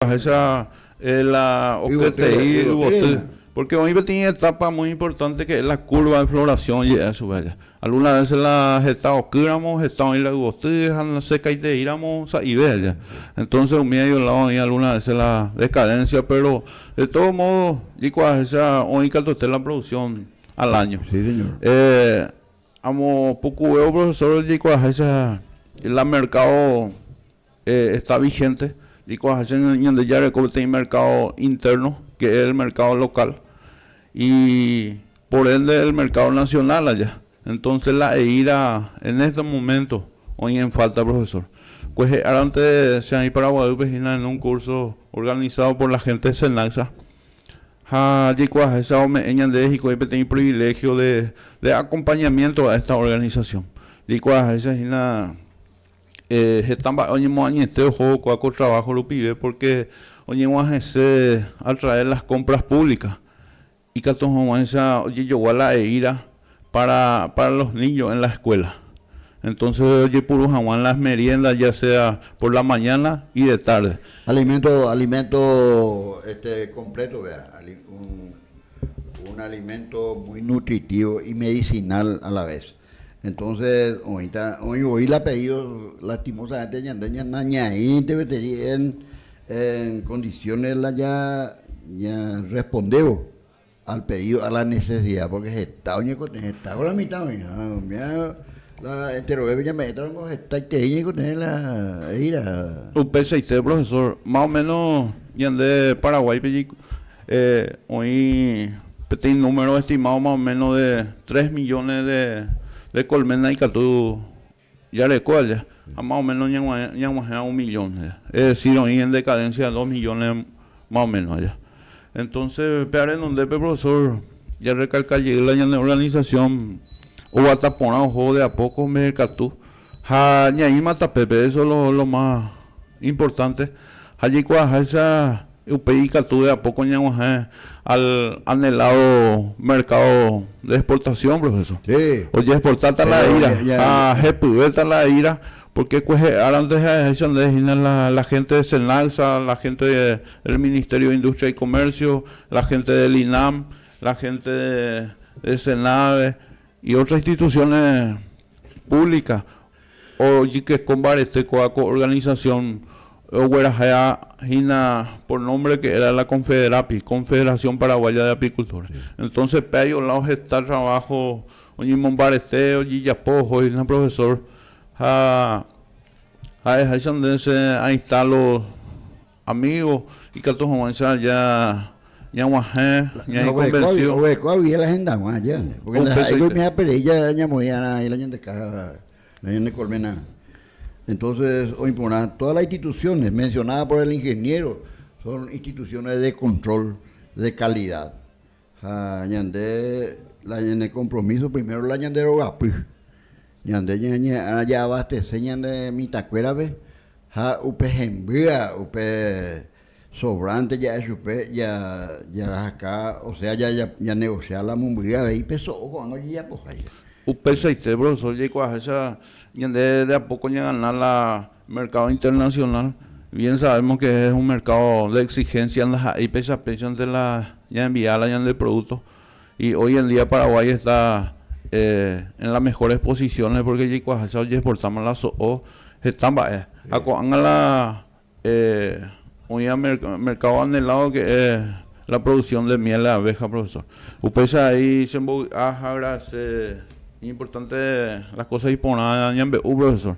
Ahecha la oketei yvoty, pórke oĩ peteĩ etápa muy importante ke la kúrva de florasiõ je'e chupe aja. Algúna vese la heta okýramo, heta oĩ la yvoty ha nasekaiteiramo sa'ive aja. Entónse umívaiko ládo oĩ algúna vese la dekadensia, péro de tódo módo jikuaaháicha oĩ katuete la produksión al áño. Amo pukuvévo profesór jikuaaháicha la merkádo. Esta vigente niko ahacha Ñandejára reko peteĩ mercado interno que es el mercado local y por ende el mercado nacional aja entonces la eira en este momento oĩ en falta profesor kuehe árante che aĩ Paraguaýpe hína en un curso organizado por la gente Senacsa ha jaikuaaháicha ome'ẽ ñandéve hikuái peteĩ privilegio de acompañamiento a esta organización jaikuaaháicha hína Heta mba'e oñemoañete ojokoa ko trabajo rupive porque oñeguahẽse a traer las compras públicas ikatu hag̃uáicha ojejogua la he'íra para para los niños en la escuela entonces ojepuru hag̃ua las meriendas ya sea por la mañana y de tarde. Alimento alimento este completo vea un alimento muy nutritivo y medicinal a la vez. Entonces oĩta, oĩ voi la pedido lastimosamente ñande nañaĩnteveseri en condiciones la ña ña respondévo al pedido, a la necesidad, porque heta oñekotỹi, heta ko la mitad oĩ, oimea la enterovépe ñame'ẽta ningo hetaiterei ñaikotỹi la he'íra. Upeichaite profesor, más o menos ñande Paraguáipe Eh, oĩ peteĩ número estimado más o menos de tres millones de, de colmena ikatu jareko aja, ha más o menos ñaguae, ñaguahẽva un millón aja. Es decir, oĩ en decadencia de dos millones más o menos aja. Entonces, pe arenondépe, profesor, ja recalca jey la ñane organización oguata porã oho de a poco mbe'ekatu. Ha ñaĩma tape, pe eso lo ma importante, ha jaikuaaháicha upéi ikatu eapo ko ñaguahẽ al anhelado mercado de exportación, profesor. Oje exportáta la ira ha hepyvéta la ira, porque kuehe árante ha'eháicha nde hína la gente de Senagsa, la gente del Ministerio de Industria y Comercio, la gente del INAM, la gente de Senave, Y otras instituciones públicas ojykeko mbarete kóva ko organización oguerahea hína por nombre que era la Confederapi, Confederación Paraguaya de Apicultores. Entonces pe aio lado heta trabajo oñemombarete ojejapo oho hína profesor ha ha'eháicha nde se ainsta los Amigo, ikatu hag̃uáicha aja ñaguahẽ ña'ikonvensiu. Oguereko agui la hendag̃ua aja, pórke ndaha'éiko oime'aperei ñamoĩ'arã la ñande kája la ñande kolména. Entónses oĩ porã tódas las institusiónes mensionádas por el ingeniéro, son institusiónes de kontrol de kalida. Ha ñande la ñane kompromiso primero la ñande rogapy. Ñande ñañe'ẽrã ja'abastese ñane mitãkuérape ha upe hembýa, upe sobrante ja'e chupe ja jarahaka, osea ja ja negociar la mombyry avei pe so'o ko'ág̃a ojejapoháicha. Upéichaite, profesor, jaikuaaháicha ñande de a poco ñagana la Mercado internacional, bien sabemos que es un mercado de exigencia ndaha'éi péicha péichante la ñaenviála ñande producto y hoy en día Paraguay está en las mejores posiciones porque jaikuaaháicha ojeexportáma la so'o heta mba'e ha ko'ág̃a la oĩva mercado anhelado que es la producción de miel de abeja, profesor. Upéicha avei chembovy'a ha agradece importante las cosas iporã ñambe'u, profesor.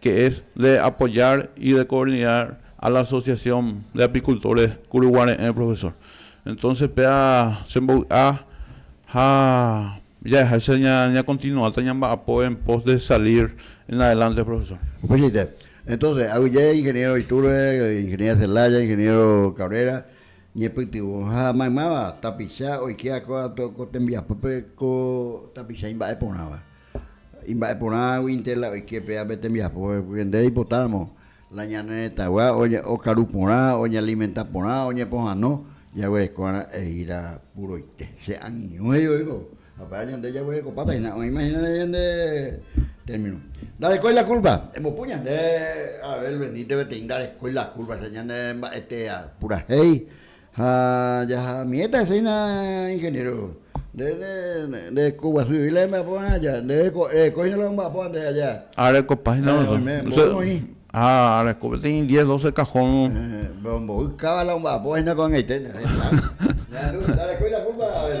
que es de apoyar y de coordinar a la Asociación de Apicultores Kuruguare'ẽ profesor. Entonces péa che mbovy'a ha jahecháicha ña continuáta ñamba'apo en pos de salir en adelante profesor. Upeichaite. Entonces aguyje ingeniero Iturbe, ingeniera Celaya, ingeniero Cabrera ñepytyvõ ha maymáva tapicha oike akóva ko tembiapópe ko tapicha imba'e porãva. Imba'eporãguinte la oike pe ápe tembiapo, pende oipotáramo la ñane retãgua okaru porã, oñealimenta porã, oñepohano, jaguereko va'erã eíra puroite. Che angirũ he'i oiko, apára ñande jaguerekopáta hína, oĩma hína ra'e ñande término. Ndarekói la kúlpa, embopu ñande Abel Benítez peteĩ ndarekói la kúlpa, che ñane mba'etea purahéi. Ha jaha'amivéta hese hína ingeniéro. Nde nde ko guasu jevy la jemba'apo va'erã aja, nde reko hína la omba'apóva nde aja. Ha rekopa hína la. Oime mboy oĩ. Ha reko peteĩ diez, doce cajón. Pero mboy káva la omba'apóva hína ko'ag̃aite. Ñanderuete, ndareko la culpa Abel.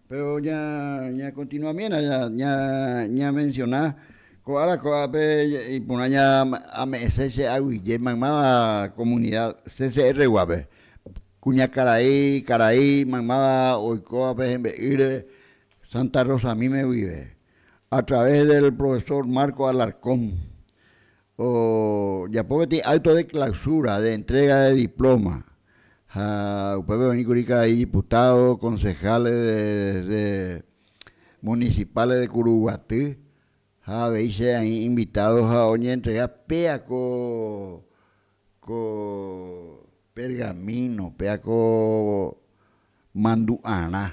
Péro ñakontinuamiéna ñamensiona ko ára ko'ápe iporã ame'ẽse che aguyje maymáva komunida CCR guápe, kuñakarai, karai maymáva oikóva pe hembe'ýre Santa Rosa míme guive, a través del profesor Marco Alarcón, ojapo peteĩ acto de clausura de entrega de diploma ha upépe oĩkuri karai diputados, concejales de municipales de Kuruguaty ha avei che aĩ invitado ha oñeentrega péa ko pergamino, péa ko mandu'arã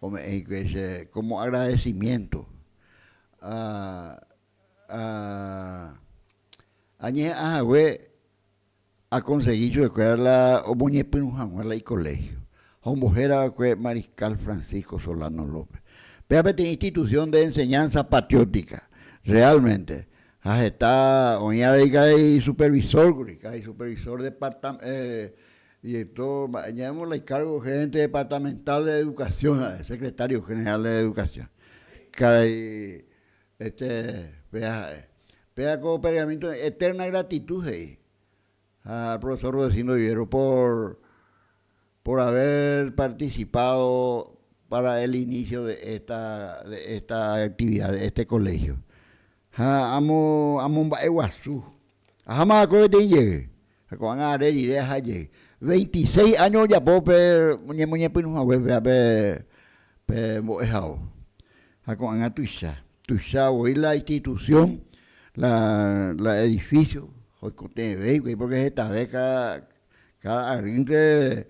ome'ẽ hikuái che como agradecimiento. ha añeha'ã hague akonsegi chupekuéra la omoñepyrũ hag̃ua la ikoléhio, ha ombohéra va'ekue Mariscal Francisco Solano López. Péva peteĩ institución de enseñanza patriótica realmente, ha heta oĩ avei karai isupervisór kuri, karai supervisor departam, director mba'e, ñavémosla icargo gerente departamental de educación ha'e, secretario general de educación, karai Este, péa ha'e. Péa ko pergamínto Eterna Gratitud he'i. Ha Profesor Rudecindo Vivero por, por haber participado para el inicio de esta, de esta actividad, de este colegio. Ha amo, amomba'eguasu. Aháma va'ekue peteĩ jey. Ha ko'ág̃a are rire aha jey, veintiséis áño ojapo pe ñemoñepyrũ hague péva pe mbo'ehao. Ha ko'ág̃a tuicha, tuicha voi la institución, la edificio oikotevẽivoi, pórke hetave káda arýnte,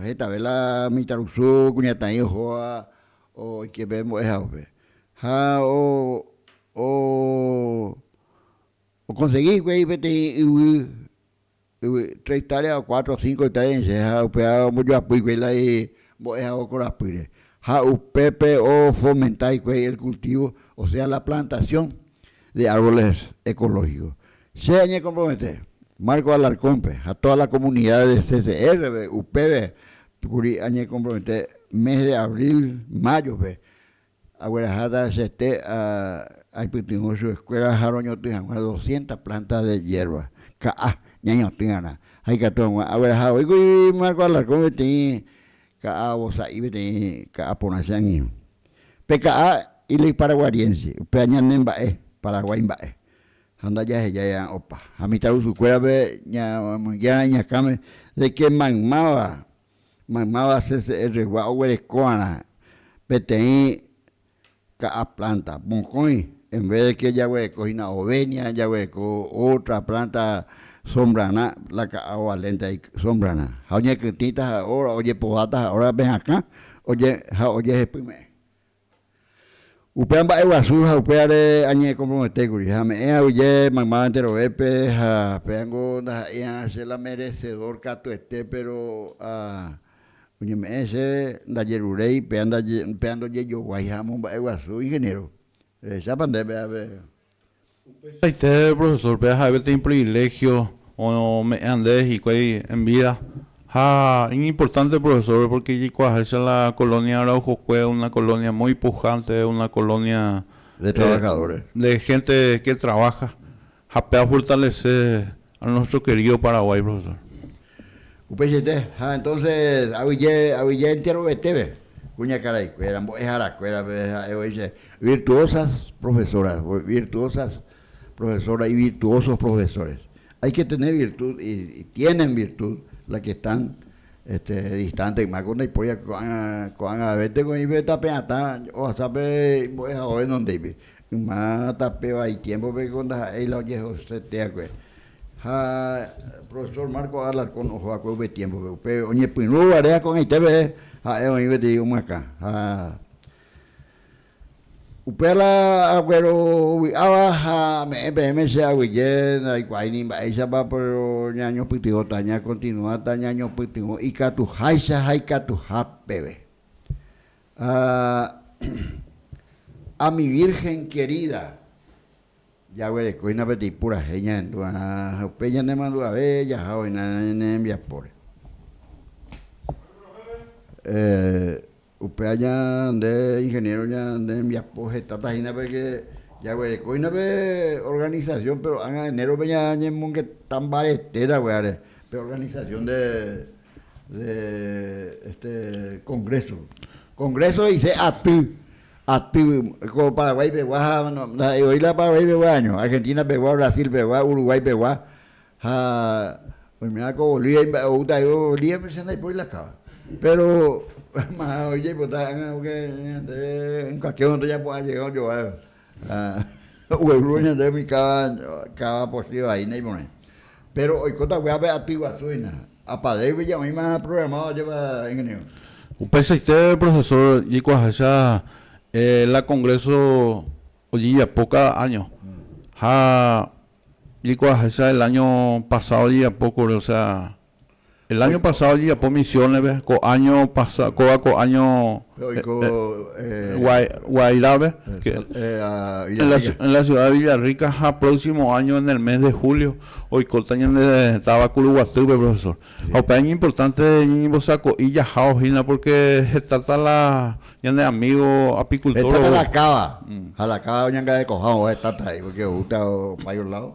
hetave la mitãrusu kuñataĩ ohóva oike pe mbo'ehaópe. Ha o Okonsegi hikuái peteĩ yvy, yvy tres itaria o cuatro o cinco itaria ñaise ha upéva ombojoapy hikuái la mbo'ehague korapýre. Ha upépe ofomenta hikuái el cultivo, o sea la plantación de árboles ecológicos. Che añekompromete Marcos Alarcón-pe ha toda la comunidad de CCR-pe upéve kuri añekompromete mes de abril, mayo-pe Agueraháta chete aipytyvõ chupe eskuéra ha roñotỹ hag̃ua doscientas plántas de hiérba, ka'a, ñañotỹva'erã. Ha ikatu hag̃ua agueraha voi kuri Marco Alarcón peteĩ ka'a ovosa'i peteĩ ka'a porã che angirũ. Pe ka'a ilýi paraguariense, upéva ñane mba'e, Paraguái mba'e, ha ndajahejáiva opa. Ha mitãrusukuérape ñamoinge'arã iñakãme de ke maymáva Maymáva CCR-gua oguerekóva'erã peteĩ ka'a planta mokõi, en vez de que jaguereko hína ovenia, jaguereko otra planta sombrarã, la ka'a ovalénte sombrarã. Ha oñekytĩta ha ojepováta ha órape hakã ha ojehepyme'ẽ. Upéva mba'e guasu ha upévare añe'ekomprometékuri, ha ame'ẽ aguyje maymáva enterovépe, ha péango ndaha'éi'arã che la meresedór katuete, péro ha oñeme'ẽ che ndajeruréi, péa ndaje, péa ndojejoguái ha amomba'e guasu, ingeniéro, rehechápa ndéve ápe. Upeichaite profesórpe aha'e peteĩ priviléhio ome'ẽ'ande hikuái en vída. Ha iñimportánte profesórpe pórke jaikuaaháicha la kolónia Araujokue una kolónia muy pujánte, una kolónia de hénte ke traváha ha peafortalese A nuestro querido Paraguay, profesor. Upeichaite, ha entonces avyje, avyje enteroveteve kuñakaraikuéra, mbo'eharakuérape ha'e voi che virtuosas profesoras, virtuosas profesoras y virtuosos profesores. Hay que tener virtud y tienen virtud las que están este distante yma ko ndaipóri ko'ág̃a ko'ág̃avete ko'ĩpe tapeatã ohasa pe imbo'ehao renondéipe. Yma tape vai tiémpope ko ndaha'éi la ojehoseteakue. Ha profesór Marcos Alarcón oho va'ekue upe tiémpope, upe oñepyrũva réa ko'ag̃aitépe ha'e oĩ peteĩ omyakã. Ha upéva aguero ovy'áva ha ame'ẽ peẽme che aguyje, ndaikuaái ni mba'éichapa, péro ñañopytyvõta, ñakontinuáta ñañopytyvõ ikatuháicha ha ikatuha peve. Ha mi Virgen querida, jaguerekóina peteĩ purahéi ñahendu va'erã ha upéi ñanemandu'ave jaha oĩna ñane rembiapóre. Upe aña nde ingeniero ñane rembiapo hetáta hína porque jaguerekóina pe organización, pero ág̃a enero-pe ñañemongetã mbaretéta guive áre pe organización de de este congreso. Congreso dice aty, aty como Paraguay pegua, no, hoy la Paraguay pegua año, Argentina pegua, Brasil pegua, Uruguay pegua, ha hoy me hago Bolivia, uta yo Bolivia me sienta y por la cava. Pero más hoy ya pues está en cualquier momento ya pues ha llegado yo. Ha ogueru ñande umi káva, káva pochýva vai naiporãi. Péro oikóta guiápe aty guasu hína. Apadégui ja oĩma aprogramáva ojepa ingeniéro. Upeichaite profesór jaikuaaháicha la kongréso ojejapo káda áño. Ha jaikuaaháicha el áño pasádo ojejapo kuri, osea El año pasado ojejapo misiones-pe, ko año pasa, kóva ko año Pe oiko eh, eh, Guai- Guairave, eh, que- sal- eh, a en la, Villarrica. en la ciudad de Villarrica, ha próximo año en el mes de julio, oikóta ñande táva Kuruguatýpe, profesor. Ha upéva iñimportante ñañembosako'i jahávo hína, porque hetáta la ñane amigo apicultor Hetáta la ogue. cáva, ha la cáva oñangarekoha oho hetáta ahí, porque oúta opáivo lado.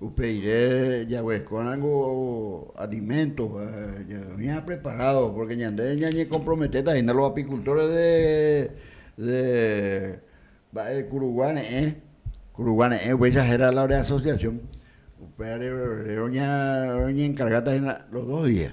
Upeire jaguerekóramo aliménto ñaime apreparádo, pórke ñande ñañekomprometéta hína los apikultóresi de mba'e kurugua reẽ, kurugua reẽ upéicha héra la reasosiasión, upévare roñenkargáta hína los dos días.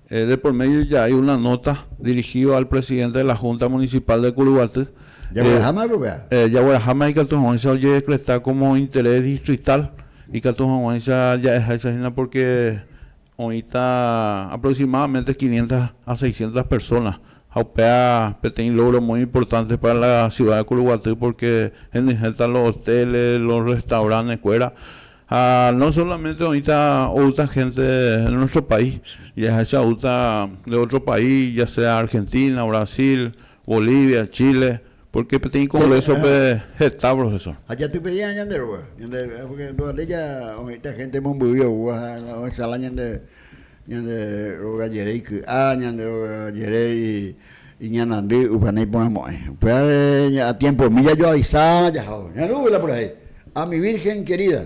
De por medio ja'ai una nota dirigido al Presidente de la Junta Municipal de Curuguaty. Jagueraháma rupi'a. Jagueraháma ikatu hag̃uáicha ojedecreta como interés distrital, ikatu hag̃uáicha ja'eháicha hína porque oĩta aproximadamente quinientas a seiscientas personas ha upéva peteĩ logro muy importante para la ciudad de Curuguaty porque henyhẽta los hoteles, los restaurantes-kuéra Ha no solamente oĩta outa gente de nuestro país, jahecha outa de otro país, ya sea Argentina, Brasil, Bolivia, Chile, porque peteĩ congreso-pe heta profesor. Ha jatypei'arã ñande róga, ñande, porque nduvale ja oĩta gente mombyry oúva ha ohecha la ñande Ñande róga jere iky'a, ñande róga jere iñanandy, upévare iporãmo'ãi. Upévare a tiempomi jajoavisa jahávo. Ñandu'ýla por ahí, a mi virgen querida.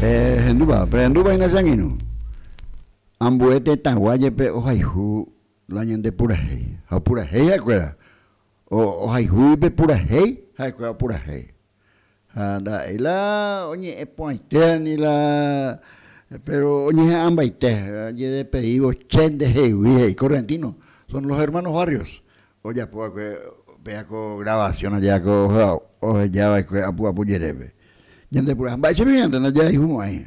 Pehendúva, pehendúva hína che angirũ. Ambue tetãgua jepe ohayhu la ñande purahéi. Ha opurahéi ha'ekuéra, ohayhu ipepurahéi ha'ekuéra opurahéi. Ha nda'éi la oñe'ẽpu'ãitévani la, péro oñeha'ãmbaite, ojedepeívo che ndehegui, he'i Correntino. Son los hermanos Barrios ojapo va'ekue péa ko gravasión aja ko oheja va'ekue apu'apu jerépe. Ñande purahéi, mba'éichapa ñande ndajahayhu mo'ãi?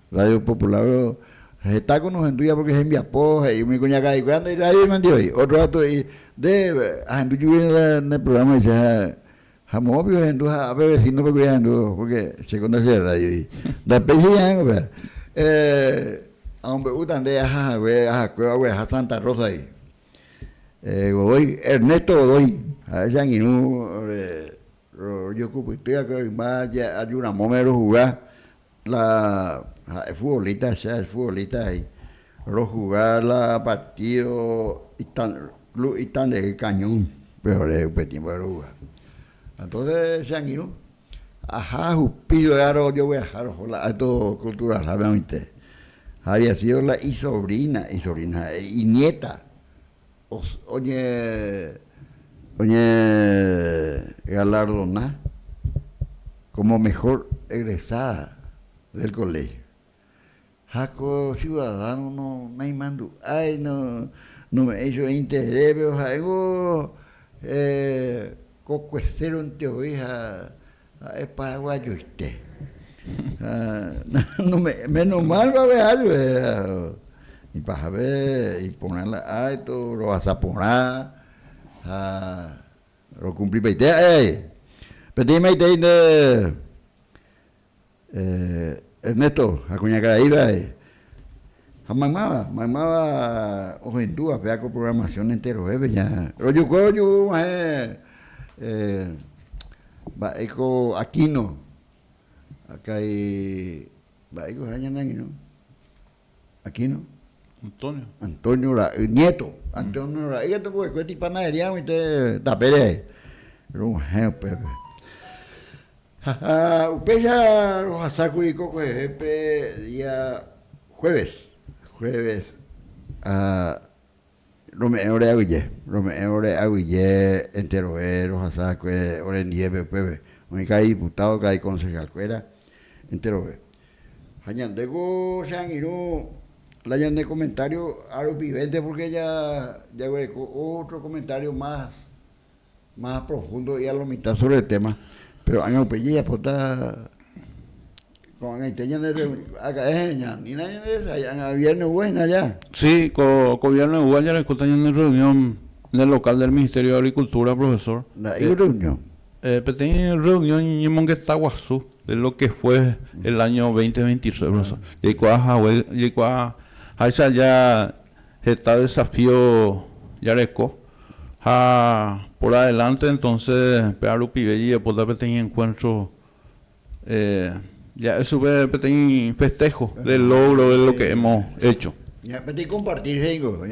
Radio Popular hetáko nohendúiva pórke hembiapo he'i umi kuñakareikuéra nde rrádio mandive he'i. Ótro gatu he'i, Nde ahendu jugui ne prugrama eicha ha moõ piko rehendu ha ape vesínope kuri ahendu pórke chéko ndacheradio he'i. Nda péicha ñaẽngo péa. Amombe'úta nde aha hague ahakuéva ogueraha Santa Rósagui. Godoy, Ernesto Godoy, ha'e che angirũ rojokupytýva kue rymba ajuramóme rohuga La ha'e futbolista, che ha'e futbolista he'i. Rohuga la partido ita, club Itandehýi Cañón pe ore upe tiémpope rohuga. Entonce che angirũ aja ahupi luegarõ ojogueraha roho la Acto Culturalhápe oĩnte. Había sido la isobrina, isobrina ha'e, iniéta Oñegalardona kómo mehór egresáda del koléhio. Ha ko siudadáno naimandu'ái, nome'ẽi chupe interés, péro ha'éngo ko kuesérante voi ha. Ha'e paraguayoite. Menos mal va'e ajue ipajave iporã la acto rohasa porã ha rokumplipaite ha'e. Peteĩmaitei nde Ernesto ha kuña karai va'e ha maymáva, maymáva ohendúva péva ko programación enterovépe ña rojukue ojuhu guahẽ mba'e ko Aquino akãi mba'e ko ha'e ñane angirũ. Aquino. Antonio. Antonio ra'y nieto. Antonio ra'y katu va'ekue tipanadería oĩte tapére ae. Rog̃uahẽ upépe. Ha upéicha rohasákuri ko kuevevépe día jueves. Jueves. Rome'ẽ ore aguyje, rome'ẽ ore aguyje enterove rohasa va'ekue ore ndiépe upépe, oĩ karai diputado, karai concejal kuéra enterove. Ha ñande ko che angirũ la ñande comentario ha rupivénte porque ja jaguereko otro comentario más Más a profundo y a lo mitad sobre el tema, pero año rupi jajapota ko'ag̃aite ñande aka'e ñanina ñanderesay'ágã viernegua hína aja. Sí, ko ko viernegua jarekóta ñande rreunión ne local del Ministerio de Agricultura, profesor. Nda'éi rreunión? Peteĩ rreunión ñemongeta guasu de lo que fue el año 2023, profesor. Jaikuaa hague, jaikuaa háicha ja Heta desafío jareko ha por adelánte, entonse péva rupive jajapóta peteĩ enkuéntro, ja'e chupe peteĩ festého de lógro de lo ke hemo hécho. Peteĩ kompartir he'íngo,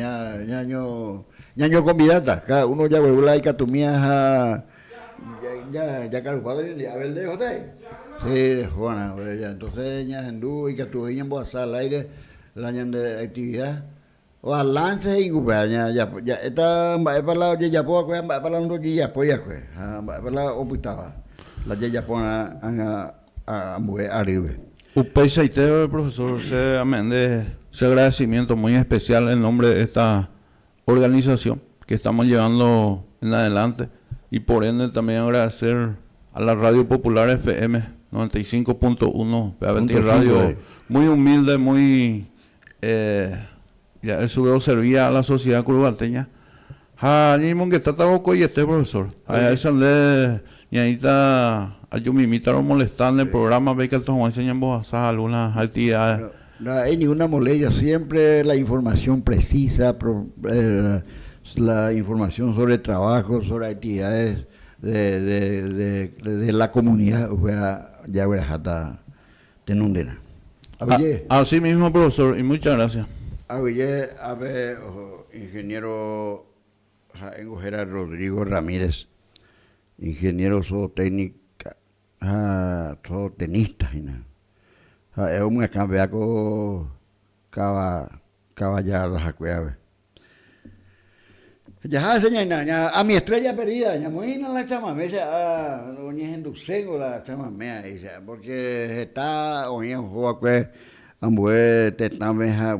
ñañokonvidáta káda uno jagueru la ikatumíaha jakarupa de oñondive Abel de Ojotái, che rehóvarã, entonse ñahendu ikatu voi ñambohasa al áire La ñande aktivida, balanse he'ingupe ja'éta mba'épa la ojejapo va'ekue ha mba'épa la ndojejapói va'ekue, ha mba'épa la opytáva la jajaporã ág̃a ambue arýpe. Upeichaite profesor, che ame'ẽnde che agradecimiento muy especial en nombre de esta organización que estamos llevando en adelante y por ende también agradecer a la Radio Popular FM 95.1 pe aveti radio muy humilde muy eh ya estuve oservía a la sociedad curuguateña ha ñaimongetátavo ko'oiete profesor ahecha nde ñaĩta ajumimíta romolesta nde programa-pe ikatu hag̃uáicha ñambohasa alguna actividades Ndaha'éi ninguna molestia, siémpre la informasión presísa, la informasión sóre traváho, sóre aktividades de la komunida, upéva jagueraháta tenonderã. Avei. Asi mismo profesor y mucha gracias. Avei ápe ingeniero ha'éngo héra Rodrigo Ramírez, ingeniero zootécnica. Ha so tenista hína. Ha'e omyakãvea ko kava, kava jarraha kuéragui. Jaha che ñaina, a mi estrella perdida, ñamoĩna la chamamé che a, oñehenduséngo la chamamé a'i che a, porque heta oĩ ohóvakue ambue tetãme ha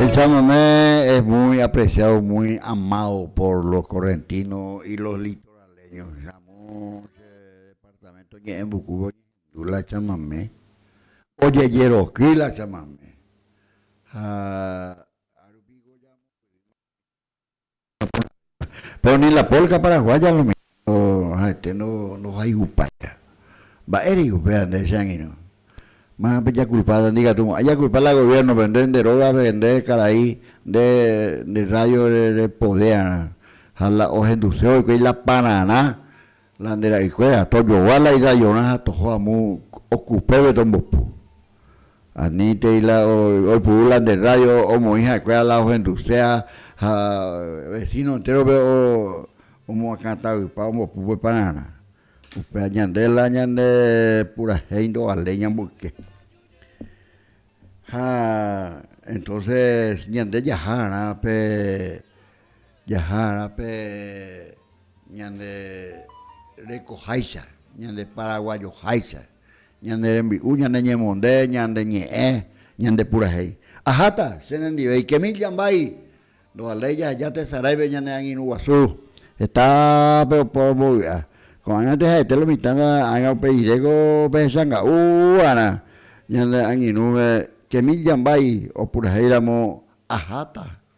Echándome es muy apreciado muy amado por los correntinos y los litoraleños jamu che departamento ñe'ẽmbukúva oñehendu la chamame ojejeroky la chamame ha Péro ni la polka paraguaya lo mismo ha'ete ndohayhupáiva. Mba'e rei upéva nde che angirũ? Má pejakulpa nde katu mo'ãi jakulpa la goviérnope, nde nde rógape, nde karai, nde nde rrádio repodéarã ha la ohenduse oikuéi la pararã La nde ra'ykuéra, tojogua la idayorã ha toho amu okupépe tombopu. Anítei la oipuru la nde rrádio omoĩ ha'ekuéra la ohenduse ha ha vesíno entérope o omoakãtavypa ombopu pe pararã. Upéva ñande la ñande purahéi ndovaléi ñamboyke. Ha entóse ñande jaha rã pe. Jahá'arã pe ñande rekoháicha, ñande paraguajoháicha, ñande rembi'u, ñande ñemonde, ñande ñe'ẽ, ñande purahéi. Aháta che rendive ikemi jambái, ndovaléi jaheja tesaráipe ñane angirũ guasu heta pe opa ombovy'a. Ko'ã ñande ha'ete lo mitã ágã upe iréko pehechanga'u'arã ñande angirũve kemi jambái opurahéi ramo aháta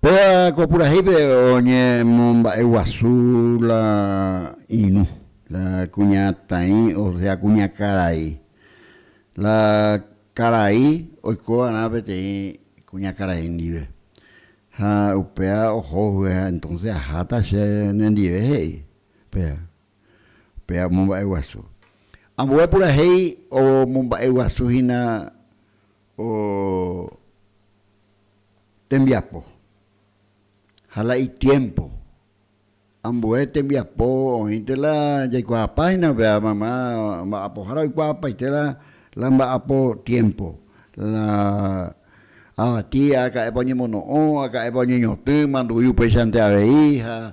Péva ko purahéipe oñemomba'eguasu la irũ, la kuñataĩ, osea kuñakarai. La karai oiko va'erã peteĩ kuñakarai ndive. Ha upéva oho vy'a entonce aháta che nendive he'i. Péva. pe amomba'eguasu. Ambue purahéi omomba'eguasu hína o tembiapo ha la itiémpo. Ambue tembiapo oĩnte la jaikuaapa hína pe amamá mba'apohára oikuaapaite la mba'apo tiémpo, la avati aka'épa oñemono'õ, aka'épa oñeñotỹ, mandu'i upéichante avei ha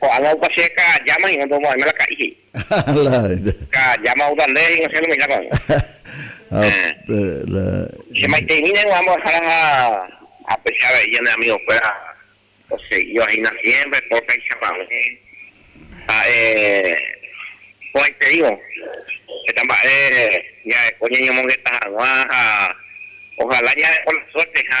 Ko'ág̃a opa che ka'ajáma hína ndomo'ãime la ka'i, he'i. Ka'ajáma outa ndéve hína che nome'ẽta ko'ág̃a. Che maiteimi neguã mbo'ehára ha apeche avei ñane amigokuéra oseguíva hína siémpre pórtaicha mave. Ha'e porãiterimo heta mba'e ñareko ñañomongeta hag̃ua ha ohala ñareko la suerte ha.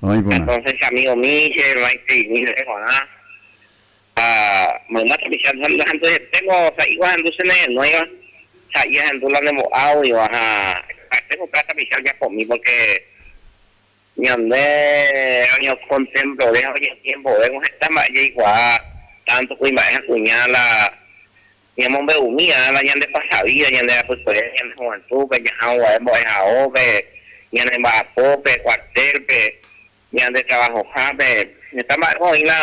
Entonces che amigo Michel, che hermano Esteimín rehe kuaa'ã ha mayma tapicha nahendu hetémo sa'ígua ahendu che nehenóiva, sa'i ahendu la nembo'águiva ha ha'ete hupéva tapicha ojapómi porque ñande reñokontemplore ha oñempiembove ko heta mba'e jaikuaa tanto kuimba'e ha kuña la Ñamombe'umi ág̃a ñande pasa vída, ñande rapykuere, ñande juventúdpe, jaha oguae mbo'ehaópe, ñane mba'apópe, kuartélpe, ñande travahohápe. Heta mba'épa oĩva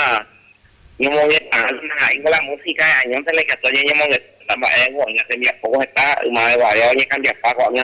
ñomongeta'ã naha'éngo la músika e'añónte la ikatu añeñemongetáta mba'éko oĩva tembiapóko heta ymave guare oñekambiapa ko'ág̃a.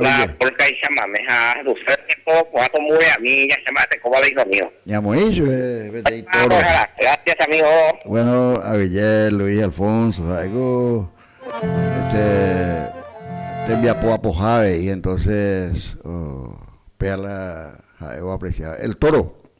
La porcaixa mame ha Russell Tempo ko'ã ko mbureami jahecháva mba'eteko Babel Dormido. Ñamoĩ chupe peteĩ toro. Gracias amigo. Bueno, aville Luis Alfonso ha'éko este tembiapo apoha avei entonces pehala ha'évo apreciar. El Toro.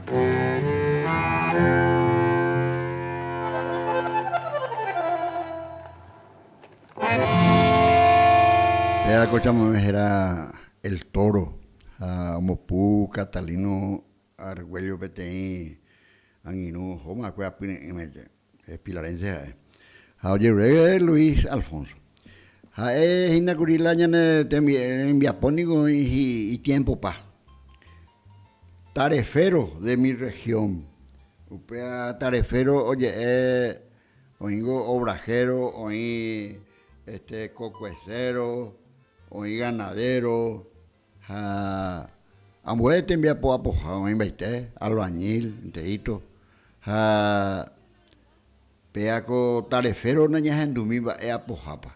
Péa ko chamamé héra El Toro ha ombopu Catalino Argüello peteĩ angirũ ohóma va'ekue apyre'ỹme. Pilarense ha'e, ha ojerure Luis Alfonso. Ha'e hína kuri la ñane rembiapo niko oĩ itiempopa, Tarefero de mi region, upéva tarefero oje'e oĩngo obrajero, oĩ kokuesero, oĩ ganadero. Ha ambue tembiapo apoha oĩmbaite, albañil, nteíto. Ha péa ko tareféro nañahendumi mba'e apohápa.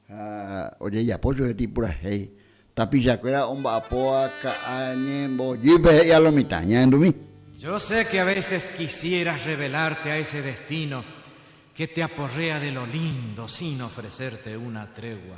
Ha ojejapo chupe ipurahéi. Tapicha kuéra omba'apóva ka'a ñembojýpe he'i a lo mitã, ñahendumi. Yo sé que a veces quisieras revelarte a ese destino que te aporrea de lo lindo sin ofrecerte una tregua.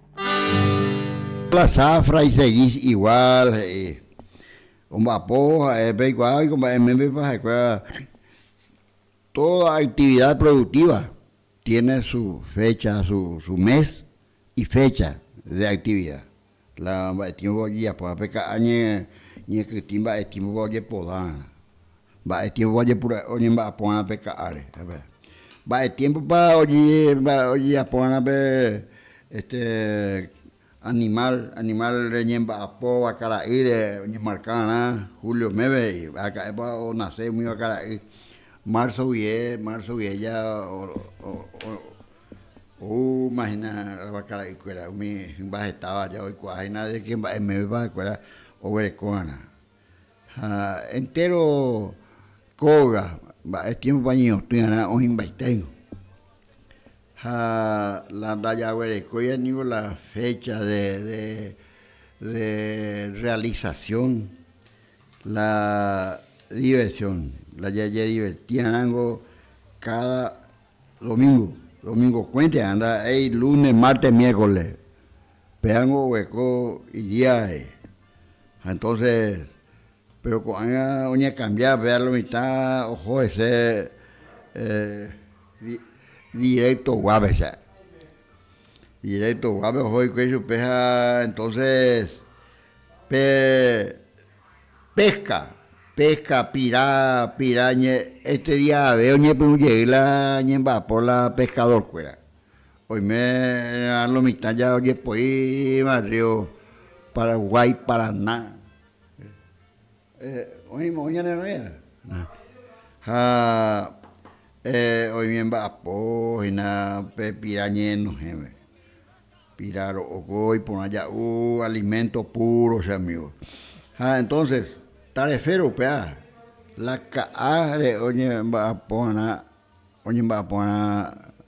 La zafra y seguís igual he'i. Omba'apo ha'e peikuaa ko mba'e méndepa ha'ekuéra toda actividad productiva tiene su fecha, su mes y fecha de actividad. La mba'e tiémpopa ojejapo, pe ka'a ñekytĩ mba'e tiémpopa ojepodárã. Mba'e tiémpopa ojepura'e oñemba'aporã pe ka'áre? Mba'e tiémpopa ojejaporã pe este animál, animál reñemba'apóva kara'ýre oñemarka va'erã julio meve he'i, ha'aka'épa onase umíva kara'y, marzo guie, marzo guie ya ou imagina kara'ykuéra umi hymba hetáva ya oikuaáhína de ke mba'e mévepa ha'ekuéra oguerekórarã. Ha entéro kóga mba'e tiémpopa ñeñotỹarã oĩ mbaiténgo. Ha la ndajaguerekóiva ningo la fécha de, de, de rrealisasión, la diversión, la jajedivertiarãngo káda domíngo, domingokuénte, anda ei lúne, márte, miérkole. Péango ogueko idiáre, ha entonces, péro ko'ág̃a oñekambiáva, péva lo mitã oho hese directoguápe che ae. Directoguápe oho hikuái chupe ha entonces pe pesca, pesca pira, pira ñe, este dia jave oñepyrũ jey la ñemba'apo la pescadorkuéra. Oime rã lo mitã ja ojepoi iva río Paraguái, Paraná, oĩma ou ñane rãya, ha oime mba'apo hina pe pira ñe'ẽnohẽme, pira ro'oko iporã ja'u alimento puro che amigo, ha entonces tarefe rupea la ka'a re oñemba'apo va'erã, oñemba'apo va'erã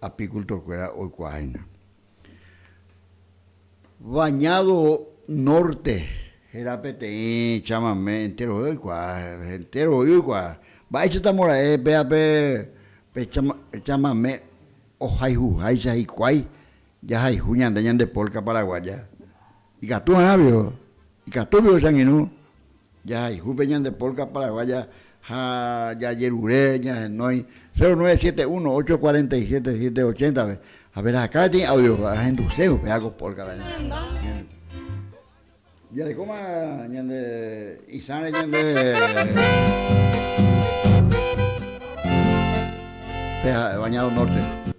apikultorkuéra oikuaáhina. Bañado Norte héra peteĩ chamame enterovéva oikuaa, enterovoíva oikuaa. Mba'éichata mora'e péva pe chamame ohayhuháicha hikuái jahayhu ñande ñande polka paraguaya? Ikatu g̃uarãvio, ikatúvio che angirũ Jahayhu pe ñande polka paraguaya ha jajerure ñahenói 0971 847 780-pe. Ha pe rahakã peteĩ audio ahenduse upe áko polka jarekóma ñande isãre ñande pe Bañado Norte.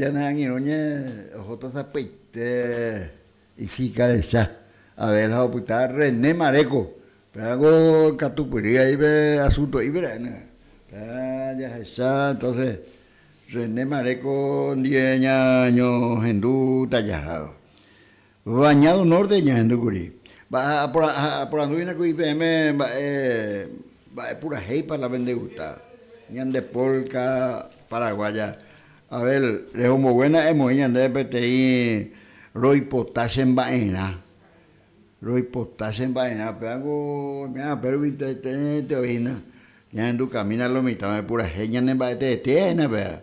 Ñane angirũ ñe oho tasapaite ichikarecha Abel ha opyta René Maréco pérango ikatupyry ahí pe asunto'i pera'éne pe jahecha entonces René Maréco ndie ñañohendu tajaha Baña du Norte ñahendu kuri. Aporandu hína kuri peẽme mba'e, mba'e purahéipa la vendeguta ñande polka paraguaya. Abel, rehomboguéna emoĩ ñandéve peteĩ roipota che mba'erã. Roipota che mba'erã. Upéva ku oime ápe rupi teete oĩna. Ñahendu camina lo mitãme purahéi ñane mba'eteetéhina péva.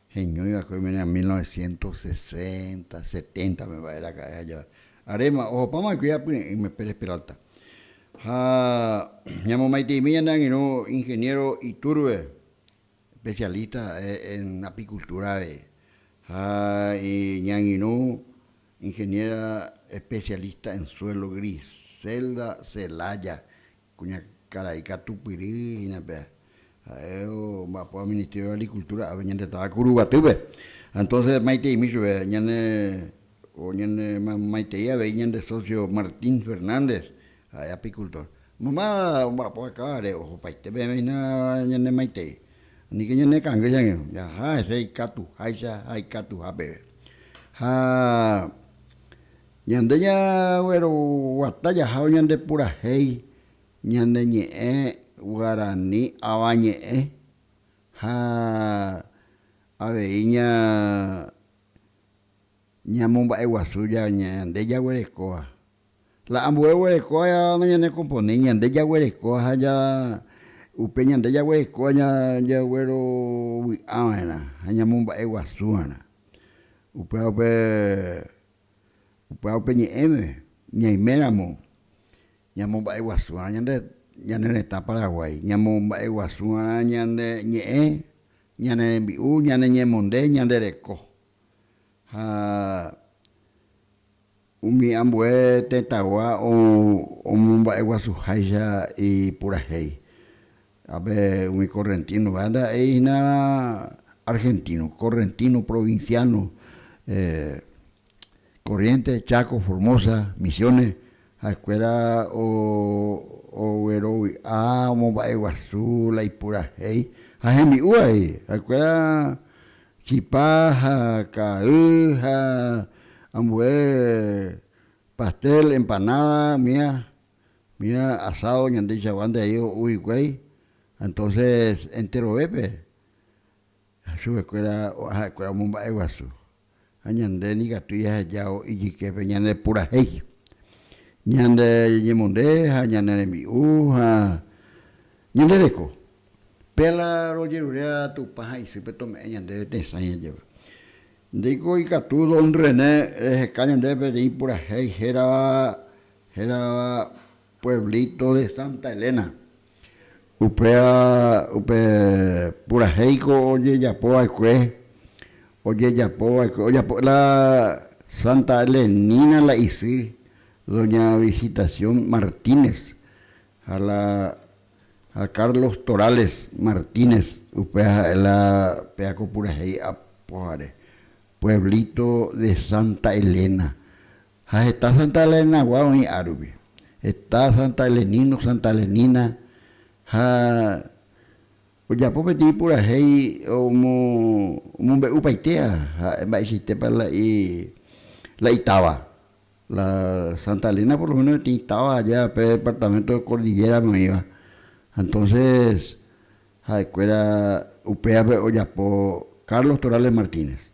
heñói va'ekue oime ña mil novecientos sesenta, setenta pe mba'e raka'e ha jave. Aréma, ohopáma oikói apy'e'ỹme, Pérez Peralta. Ha ñamomaiteimi ñane angirũ ingeniero Iturbe, especialista ha'e en apicultura avei. Ha ñangirũ ingeniera especialista en suelo Griselda Celaya, Kuña karai katu Pyry hína pe, ha'e omba'apo Ministerio de Agricultura ápe ñande táva Kuru Guatýpe. Entonces maiteimi chupe ñane o ñane maitei avei ñande socio Martín Fernández, ha'e apicultor. Mamá omba'apo akávare ohopaite peẽme hína ñane maitei. Niko ñanekangy che angirũ, jaha hese ikatuháicha ha ikatuha peve. Ha Ñande jagueroguata jaha oñandepurahéi ñane ñe'ẽ guarani avañe'ẽ ha avei ña ñamomba'eguasu ñande jaguerekóva. La ambue oguerekóva noñanekomponi, ñande jaguerekóva ha ja upe ñande jaguerekóva jaguerovy'ava'erã ha ñamomba'eguasuva'erã. Upévape Upéva upe ñe'ẽme ñaiméramo ñamomba'eguasu'arã ñande ñane retã Paraguái, ñamomba'eguasu'arã ñande ñe'ẽ, ñane rembi'u, ñane ñemonde, ñande reko. Ha umi ambue tetãgua omomba'eguasuháicha ipurahéi. Ha pe umi correntino va'erã ndaha'éi hína argentino, correntino, provinciano, Corrientes, Chaco, Formosa, Misiones ha'ekuéra oguerovi'a omomba'eguasu la ipurahéi ha hembi'u avei, ha'ekuéra chipa ha ka'aguy ha ambue pastel, empanada, miga Mira asado ñandeichagua nde aívo ou hikuái, entonces enterovépe chupekuéra ha'ekuéra omomba'e guasu. Ha ñande nikatu jahejavo ijyképe ñane purahéi, ñande ñemonde ha ñane rembi'u ha ñande reko. Péala rojeruréva Tupã ha isýpe tome'ẽ ñandéve tesã ñajéva. Ndéiko ikatu don René reheka ñandéve peteĩ purahéi hérava Hérava pueblíto de Santa Elena. Upéva upe purahéiko ojejapo va'ekue, ojejapo va'ekue, ojapo la Santa Elenína la isy, doña Visitación Martínez, ha la ha Carlos Torales Martínez, upéva ha'e la péva ko purahéi apo jare, pueblíto de Santa Elena. Ha heta Santa Elenagua oĩ árupi. Heta Santa Elenino, Santa Elenina. Ha ojapo peteĩ purahéi omombe'upaitéva ha'e mba'eichaitépa la itáva. La Santa Elena por lo méno peteĩ táva aja pe departaménto de Kordillérape oĩva. Ha entónses ha'ekuéra upévape ojapo Carlos Torales Martínez.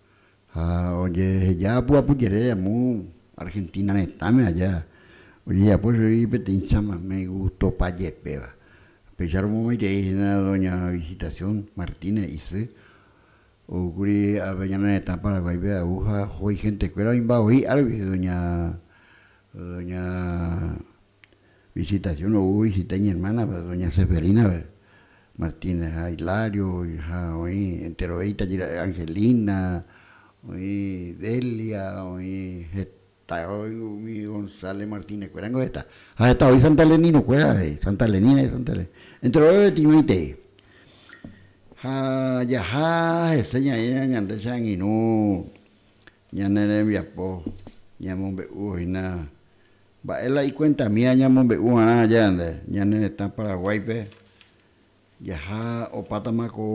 Ha ojeheja apyapu jere amo Argentina retãme aja, ojejapo chugui peteĩ chamamé gustopa jepéva. Pecháramo maitei hína doña Visitación Martínez isy, oúkuri ápe ñane retã Paraguáipe agu ha ho'i hentekuéra oĩmba voi árgui doña, doña. Visitación ou ovisita iñermánagua doña Seferínagui Martínez ha Hilario ha oĩ enterovia itajýra Angelina, oĩ Delia, oĩ heta umi González Martínez kuéra ningo heta ha heta oĩ Santa Elenino kuéra avei, Santa Elenina y Santa Elena enteroveve timointei ha jaha hese ñaĩramo ñande che angirũ Ñane rembiapo ñamombe'u hína mba'e la ikuentamína ñamombe'u va'erã aja ñande ñane retã Paraguáipe jaha opátama ko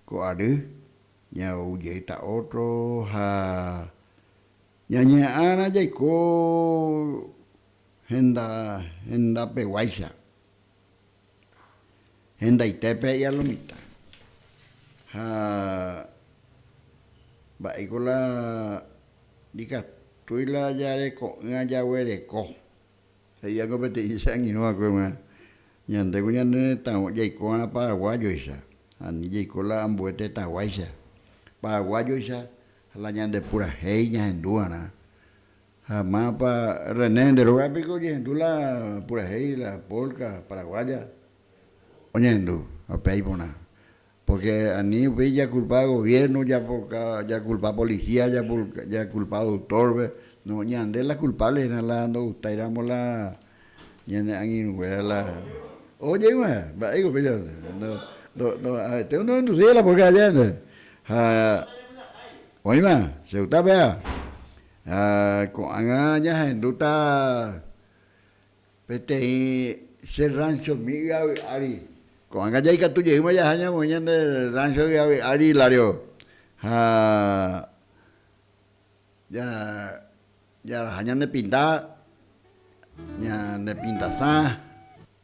ko ary ñaou jeýta ótro ha ñañeha'ãrã jaiko henda hendapeguáicha. Hendaite pe ialomita. Ha mba'éiko la ndikatúi la jareko'ỹa jaguereko. He'iáko peteĩ che angirũ va'ekue g̃uarã, Ñande ku ñane retãgua, jaiko va'erã paraguájoicha, ani jaiko la ambue tetãguáicha, paraguájoicha, ha la ñande purahéi ñahendu va'erã. Ha mápa, René, nde rógapiko ojehendu la purahéi, la polka paraguaya? Oñehendu, ha upéi iporã. Pórke ani upéi jakulpa goviérno, japoka, jakulpa polisía, japulka, jakulpa doktórpe. No, ñande la kulpáble hína la ndogustaíramo la ñane angirũnguéra la. Oho jey g̃uahẽ, mba'éiko upéicha ndo, ndo, ndo, aveténgo ndohendusýi la polka aja nde. Ha oĩma, che gusta péva. Ha ko'ág̃a jahendúta peteĩ Che Rránchomi ýavi ári. Ko'ág̃a jaikatu jeýma jaha ñamoĩ ñande rráncho ýavi ári, Hilario. Ha ja, jaraja ñanepinta, ñanepintasã,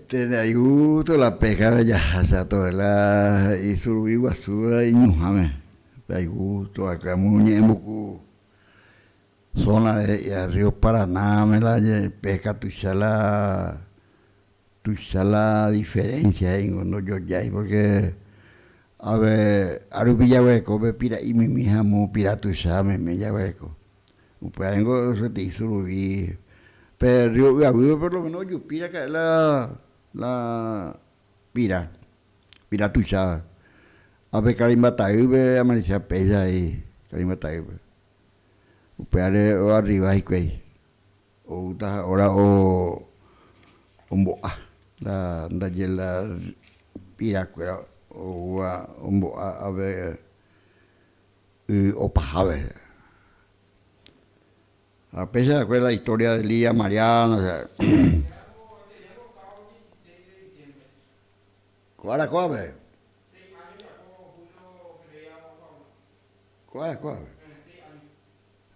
Pene ayhu tolape jave jahacha tovela isuruvi guasúva iñuhãme, pe ayhu toakãmu ñe'ẽmbuku zona e'ia río Paranáme la peka tuicha la tuicha la diferencia he'íngo ndojojái porque ave árupi jaguereko pe pira'i mimi ha mu pira tuicha mimi jaguereko. Upéva ningo sapy'a isuruvĩ pe rrío Y'aguýpe por lo méno ojupi raka'e la pira, pira tuicháva. Ha pe Karimba ta'ýpe amarichéva péicha he'i Karimba ta'ýpe. Upévare oarriva hikuái, oúta ha óra ombo'a la ndaje la pirakuéra oúva ombo'a ápe. y opaha rehe. Ha péicha va'ekue la historia de Lía Mariana che. Ko ára kóape. Ko ára kóape.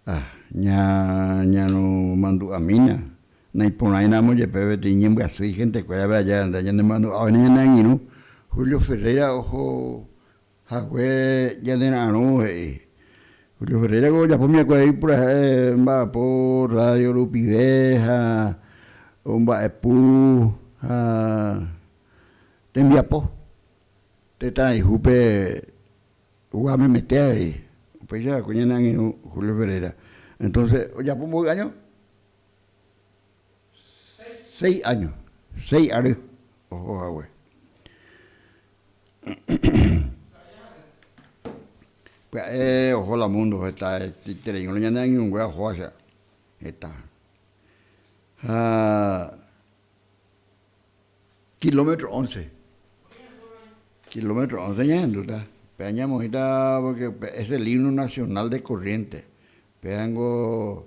Ah, ña, ñanemandu'amína, naiporãína amo jepe peteĩ ñembyasy igenteku érape aja, nde ñanemandu'ávaina ñane angirũ, Julio Ferreira oho. Hague ñanera'arõ he'i, Julio Ferreira ko ojapo myakuave'i purahéi mba'apo radio rupive ha omba'epu ha tembiapo tetãrayhúpe gua memete avei, upéicha hague ñane angirũ Julio Ferreira, entonce ojapo mboy año. seis áño, seis ary oho hague. Pya'e oho la múndo heta etereígui la ñane añongue ajoa che retã. Ha kilómetro ónce, kilómetro ónce ñahendúta, pe aña amoĩta pórke pe es el himno nacional de Corrientes, pe ningo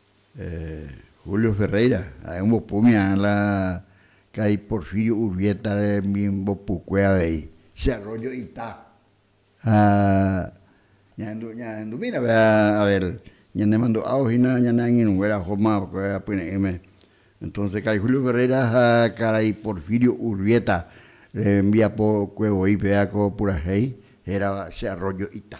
Julio Ferreira ha'e ombopu umi aã la kai Porfirio Urbieta rembimbopukué avei, Che Arroyo ita. Ha ñahendu, ñahendu mira vea Abel, ñanemandu'ávo hína ñane angirũ nguéra Joma vekove apyre'ỹme. Entonce karai Julio Ferreira ha karai Porfirio Urbieta rembiapokue voi péva ko purahéi hérava Che Arroyo ita.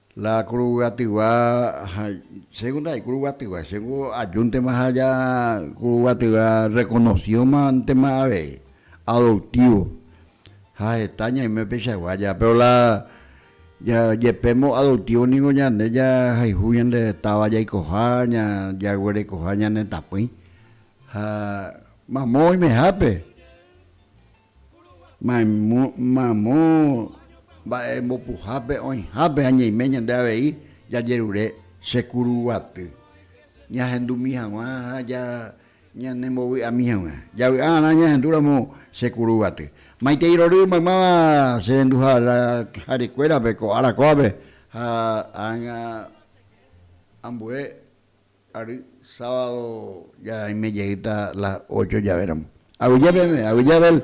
La kuruguatyva, chéngo ndaje kuruguatyva, chéngo ajúntema ha ja kuruguatyva rekonosióma ntema avei, adoptívo. Ha heta ñaime upeichagua ja, péro la jepe moadoptívo ningo ñande jahayhu ñande táva jaikoha, jaguerekoha ñanetãpỹi. Ha mamó oimehápe. Mamo mba'e mbopuhápe oĩhápe ha ñaime ñande avei jajerure che kuru guaty, ñahendumi haguã ha ñane mbovy'ami haguã. Javy'a arã ñahendu ramo che kuru guaty. Maitei rory maymáva che rendu jare kuérape ko ára kóvape ha ág̃a ambue. Ary sábado ja aime jeýta las ocho jave ramo. Avyja peme, avyja Abel.